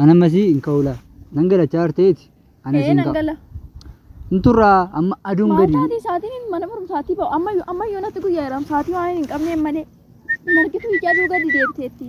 Ana masii hin ka'uula. Nan gala chaarteeti. Ana Ee siin nan ka'a. gala. Hin turraa amma aduun gadi. Maataatii sa'aatiin mana barumsaatii ba'u amma yoo- amma yoo natti guyyaa jedhamu sa'aatii waan hin qabneen malee hin argitu ija aduu gadi deebiteetti.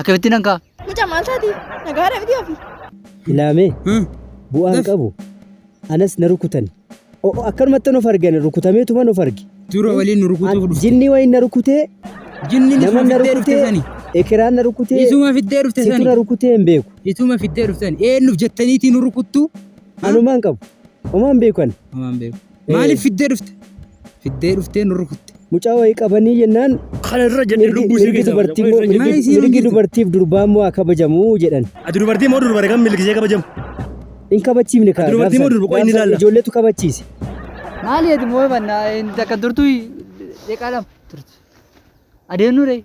Akkamittiin an ka'a? Mucaa maal taati? Nagaadha miti ofi. Ilaamee bu'aan qabu anas na rukutani. O'o akkanumatti nuuf argani rukutameetuma nuuf arge. Dura waliin nu rukutuuf dhufte. Jinnii waliin na rukutee Jinni nama isuma na fiddee dhufte rukutee sani. ekiraan na rukutee Isuma fiddee dhufte situ na sani. rukutee hin beeku. Isuma fiddee dhufte sani. Eenyuuf jettaniitii nu rukuttu? Anumaan qabu. Omaan beeku ani. Amaan beeku. Maaliif fiddee dhufte? Fiddee dhuftee nu rukutte. Mucaa wayii qabanii jennaan Kana irra jenne mirgi lubbuu ishee mirgi keessaa dubartii immoo Maal mirgi isiin mirgi hojjetu? dubartiif durbaa immoo haa kabajamu jedhan. Ati dubartii moo durbare kan milkisee kabajamu? Hin kabachiifne kaa. Dubartii moo durba? Qoy inni ilaalla. Ijoolleetu kabachiise. Maali ati moo banna takka turtu deeqaa lama turtu. Adeemnu ree.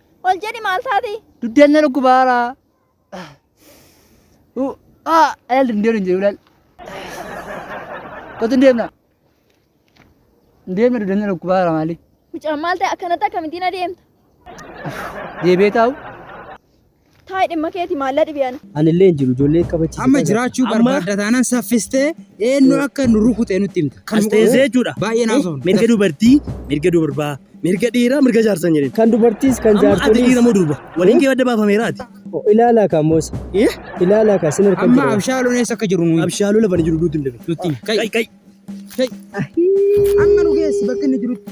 Ol jedhi maal taati? Dugdeen na dhukkubaara. Uu, aa, Eel hin deemne hin jedhu laal. Kottu hin deemna. Hin deemne dugdeen na dhukkubaara maali? Mucaan maal ta'e akkanatti akkamittiin adeemta? Deebee taa'u. Taa'e dhimma keeti maallaa dhibi ana. Anillee hin jiru ijoollee qabachiisa. Amma jiraachuu barbaadda taanaan saffistee eenyu akka nu rukute nutti himta. Kan As teessee jechuudha. Baay'ee naaf ta'u. Mirga dubartii, mirga durbaa, mirga dhiiraa, mirga jaarsaa hin jedhin. Kan dubartiis kan Amma ati jaartoliis. dhiira moo durba? Waliin kee adda baafameera ati. Ilaalaa kaa moos. Eh? Ilaalaa kaa sin harkan Amma jira. abshaaluun eessa akka jiru nuyi. Abshaaluu lafa ni jiru duuti hin dabe. Nutti himi. Kai. Kai kai. Amma nu geessi bakka inni jirutti.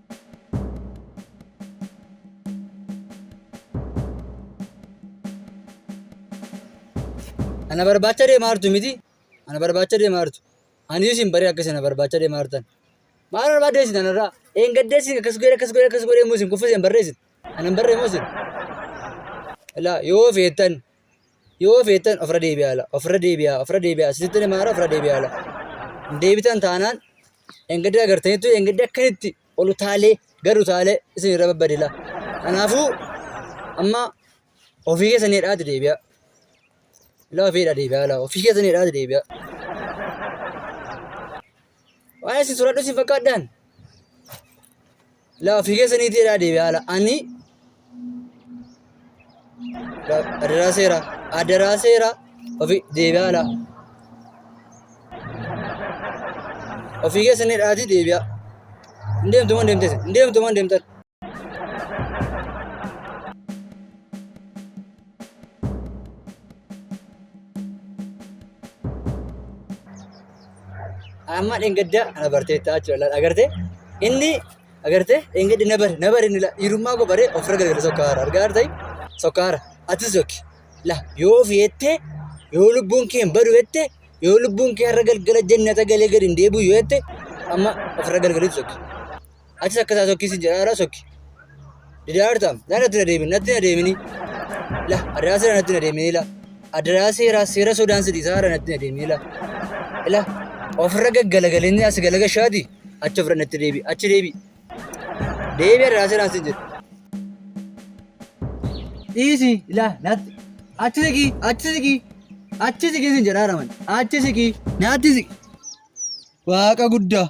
Ana barbaacha deemaa jirtu miti. Ana barbaacha deemaa jirtu. Ani isin baree akka isin na barbaacha deemaa jirtan. Maal barbaadde isin anarraa? Een gaddee isin akkas godhee akkas godhee akkas godhee immoo isin kuffisee hin barreessin. Ana hin barree immoo isin. Ilaa yoo feetan Yoo feetan ofirra deebi'aa ala, ofirra deebi'aa, ofirra deebi'aa, isinitti himaa ofirra deebi'aa ala. Hin deebitan taanaan engedda agartanitti engedda akkanitti ol utaalee gad utaalee isin irra babbadila. Kanaafuu amma ofii keessan hidhaati deebi'aa. Ilaa ofii hidhaa deebi'aa ala, ofii keessan hidhaati deebi'aa. Waan isin sodaadhu isin fakkaadhaan. Laa ofii keessaniitii jedhaa deebi haala. Ani adaraa seera adaraa seera ofii deebi haala. Ofii keessanii dhaatii deebi'a. Hin deemtu moo deemte hin deemtu moo deemtan. Amma dheengadda ana barteettaa jechuudha. Laal agartee inni agartee dheengadda na bare na bare inni laa dhiirummaa koo baree ofirra gargara sokkaara argaa artee sokkaara atis yooki laa yoo ofi jettee yoo lubbuun kee hin badu jettee yoo lubbuun kee har'a galgala jennata galee gadi hin deebi'u yoo jette amma ofirra gargara ibsu. Atis akka isaa sokkii sin jedhaa irraa sokki. Didaa jirta? Naa natti na deemin, natti na deemini. La, adaraa seera natti na deemini la. Adaraa seera, seera sodaan si dhiisaa irra natti na deemini la. La, ofirra gaggalagalinni as galagashaati achi ofirra natti deebi, achi deebi. Deebi adaraa seeraan sin jedhu. Dhiisi, la, natti. Achi siqii, achi siqii, achi siqii sin jedhaa raman. Achi siqii, natti siqi. Waaqa guddaa.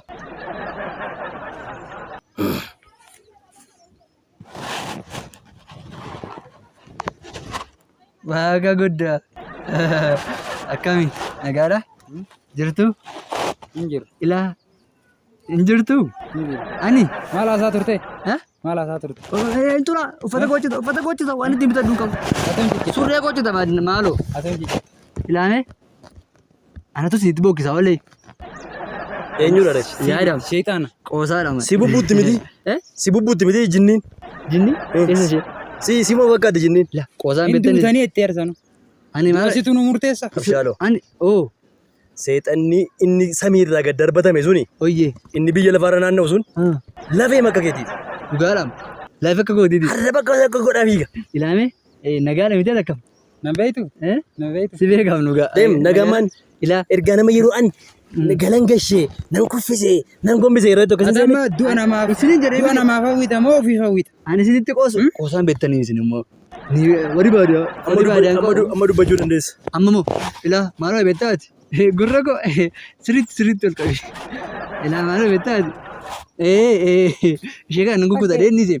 Waaqa guddaa. Akkami? Nagaadha? Jirtu? Hin jiru. Ilaa? Hin jirtu? Hin jiru. Ani? Maal haasaa turte? Ha? Maal haasaa turte? Hin tura. Uffata gochita. Uffata gochita. Waan ittiin bitadhu hin qabu. Atam jijjiirra. Surree gochita maaloo. Atam jijjiirra. Ilaamee? Anatu sitti bokkisa olee. Eenyudha reef? Yaadam. Sheexaana. Qoosaadha malee. Si bubbuutti miti. Eh? Si bubbuutti miti jinniin. Jinni? Eessa ishee? Si si moo fakkaatti jinniin? La qoosaan Hin beektanii. duutanii itti eersanu. Ani maal? Asitu nu murteessa. Abshaaloo. Ani oo Seexanni inni samii irraa gad darbatame suni oyyee. inni biyya lafaarra naanna'u sun Ah, lafee makka keetiiti. Dhugaadhaam. Lafa akka kootiiti. Har'a bakka bakka godhaa fiiga. Ilaamee eh, nagaadha miti akkam. Nan beektu? Eh? Nan beektu? Si beekam nu ga'a. Deem nagamaan Ilaa. ergaa nama yeroo an galan gashee nan kuffisee nan gombisee yeroo tokko Ati amma du'a namaaf Isiniin jedhee du'a miti. namaaf hawwita moo ofiif hawwita? Ani isinitti qoosu qoosaan beektanii isin immoo. Ni warri baadiyyaa. Warri baadiyyaa hin qoodne. amma dubbachuu dandeessa. Amma moo ilaa maaloo beektaa ati? Gurra koo siritti siritti ol qabi. Ilaa maaloo beektaa ati? Ee ee ishee kana nan gugguta dheedni ishee.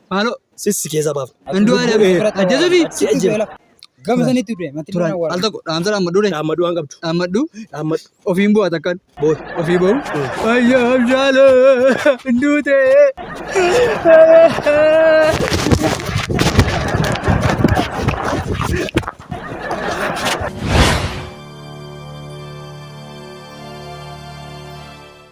Maaloo. Sissi keessa baafna. Andu'aalem ajjeesuufi si ajjeefna. Gama sanitti du'e matti Turaan al tokko dhaamsa dhaammadhu dha. Dhaammadhu waan qabdu. Dhaammadhu. Dhaammadhu. Ofiin bu'a takkan. Booda. Ofii ba'u. Ayyaa abshaala duute.